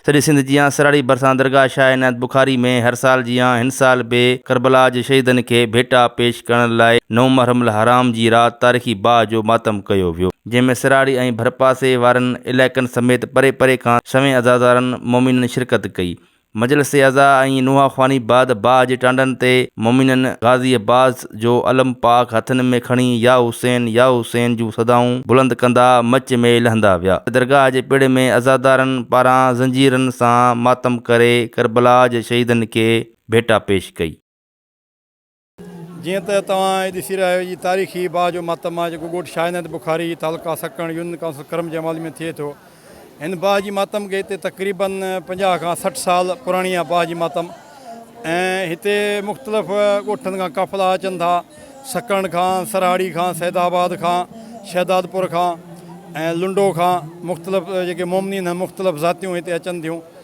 سڄي سنڌ جيان سراڙي ڀرسان درگاهه شاهه عنايت بخاري ۾ هر سال جيان هن سال به ڪربلا جي شهيدن کي ڀيٽا پيش ڪرڻ لاء نو محرم الحرام جي رات تاريخي باهه جو ماتم ڪيو ويو. جنهن ۾ سراڙي ۽ ڀرپاسي وارن علائقن سميت پري پري کان سوين عزادارن مومنن شرڪت ڪئي. مجلس اعضاء ۽ نوحه خواني بعد باهه جي ٽانڊن تي مومنن غازي عباس جو علم پاڪ هٿن ۾ کڻي يا حسين يا حسين جون صدائون بلند ڪندا مچ ۾ لهندا ويا ته درگاهه جي پڙ ۾ عزادارن پاران زنجيرن سان ماتم ڪري ڪربلا جي شهيدن کي ڀيٽا پيش ڪئي. جيئن ته توهان هي ڏسي رهيا آهيو جي تاريخي باهه جو ماتم آهي جيڪو ڳوٺ شاهه نهد بخاري تعلقه سڪڻ يونين ڪائونسل ڪرم جي حوالي ۾ ٿئي ٿو. هن باهه جي ماتم کي هتي تقريباً پنجاهه کان سٺ سال پراڻي آهي باهه جي ماتم ۽ هتي مختلف ڳوٺن کان قافلا اچن ٿا سڪڻ کان سرهاڙي کان سيد آباد کان شهداد پور کان ۽ لنڊو کان مختلف جيڪي مومنين مختلف ذاتيون هتي اچن ٿيون.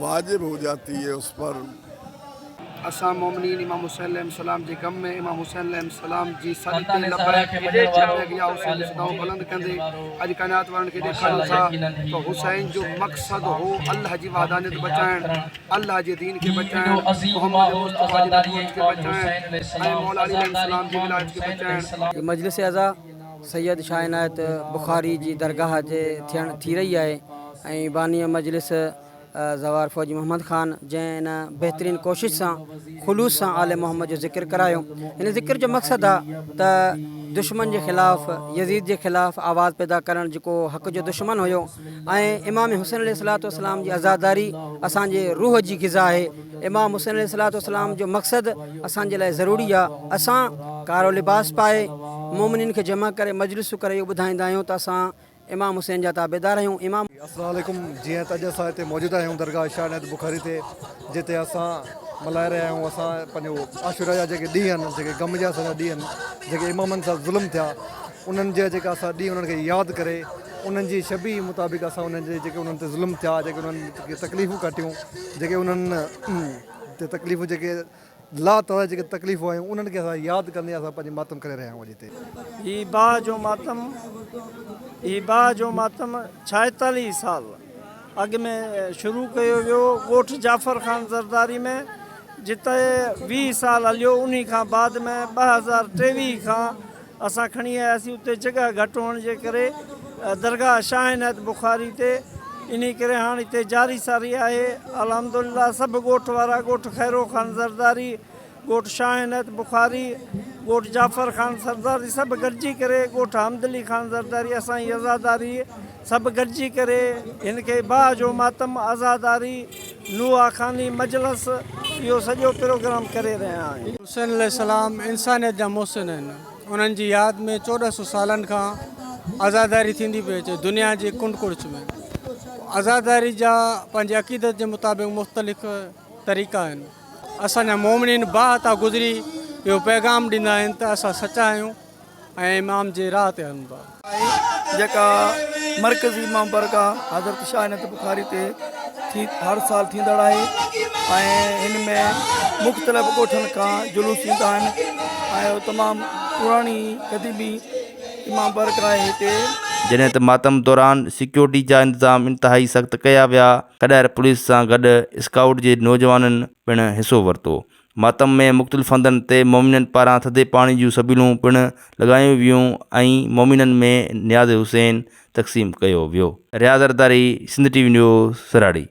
واجب هو جاتي هي اس پر. اسان مومنين امام حسين عليه السلام جي غم ۾ امام حسين عليه السلام جي سڏ تي لبيڪ لبيڪ يا حسين جي صدائون بلند ڪندي اڄ ڪائنات وارن کي ڏيکاريون ٿا ته حسين جو مقصد هو الله جي وحدانيت بچائڻ الله جي دين کي بچائڻ محمد مصطفيٰ جي نبوت کي بچائڻ ۽ مولا علي عليه السلام جي ولايت کي بچائڻ. جي مجلس اعزا سيد شاهه عنايت بخاري جي درگاهه تي ٿيڻ ٿي رهي آهي ۽ باني مجلس زوار فوجي محمد خان جنهن ان بهترين ڪوشش سان خلوص سان آل محمد جو ذڪر ڪرايو ان ذڪر جو مقصد آ ته دشمن جي خلاف يزيد جي خلاف آواز پيدا ڪرڻ جيڪو حق جو دشمن هيو ۽ امام حسين عليه السلام جي عزاداري اسان جي روح جي غذا آهي امام حسين عليه الصلوة والسلام جو مقصد اسان جي لاء ضروري آ اسان ڪارو لباس پائي مومنين کي جمع ڪري مجلسون ڪري اهو ٻڌائيندا آهيون ته اسان امام حسين جا تابعدار آهيون امام. السلام عليڪم جيئن ته اڄ اسان هتي موجود آهيون درگاهه شاهه عنايت بخاري تي جتي اسان ملهائي رهيا آهيون اسان پنهنجو عاشورا جا جيڪي ڏينهن آهن جيڪي غم جا اسان جا ڏينهن آهن جيڪي امامن سان ظلم ٿيا انهن جا جيڪا اسان ڏينهن انهن کي ياد ڪري انهن جي شبيهه مطابق اسان انهن جي جيڪي انهن تي ظلم ٿيا جيڪي انهن کي تڪليفون ڪاٽيون جيڪي انهن تي تڪليفون جيڪي لا تعداد جيڪي تڪليفون آيون انهن کي اسان ياد ڪندي اسان پنهنجي ماتم ڪري رهيا آهيون اڄ هتي. هي باهه جو ماتم هي باهه جو ماتم ڇائيتاليهه سال اڳ ۾ شروع ڪيو ويو ڳوٺ جعفر خان زرداري ۾ جتي ويهه سال هليو انهي کان بعد ۾ ٻه هزار ٽيويهه کان اسان کڻي آياسين اتي جڳهه گهٽ هئڻ جي ڪري درگاهه شاهه عنايت بخاري تي انهي ڪري هاڻ اتي جاري ساري آهي الحمدلله سڀ ڳوٺ وارا ڳوٺ خيرو خان زرداري ڳوٺ شاهه عنايت بخاري ڳوٺ جعفر خان سرداري سڀ گڏجي ڪري ڳوٺ حمد علي خان زرداري اسان جي عزاداري سڀ گڏجي ڪري هن کي باهه جو ماتم عزاداري نوحه خاني مجلس اهو سڄو پروگرام ڪري رهيا آهيون. حسين عليه السلام انسانيت جا محسن آهن انهن جي ياد ۾ چوڏهن سو سالن کان عزاداري ٿيندي پئي اچي دنيا جي ڪنڊ ڪڙڇ ۾ عزاداري جا پنهنجي عقيدت جي مطابق مختلف طريقا آهن اسان جا مومنين باهه تان گذري اهو پيغام ڏيندا آهن ته اسان سچا آهيون. ۽ امام جي راهه تي هلندو آهي. جيڪا مرڪزي امام بارگاهه حضرت شاهه عنايت بخاري تي ٿي هر سال ٿيندڙ آهي ۽ هن ۾ مختلف ڳوٺن کان جلوس ايندا آهن ۽ تمام پراڻي قديمي امام بارگاهه آهي هتي. جڏهن ته ماتم دوران سيڪيورٽي جا انتظام انتهائي سخت ڪيا ويا، ڪڏهر پوليس سان گڏ اسڪائوٽ جي نوجوانن پڻ حصو ورتو، ماتم ۾ مختلف هنڌن تي مومنن پاران ٿڌي پاڻي جون سبيلون پڻ لڳايون ويون ۽ مومنن ۾ نياز حسين تقسيم ڪيو ويو. Riaz Zardari Sindh T V news سراڙي.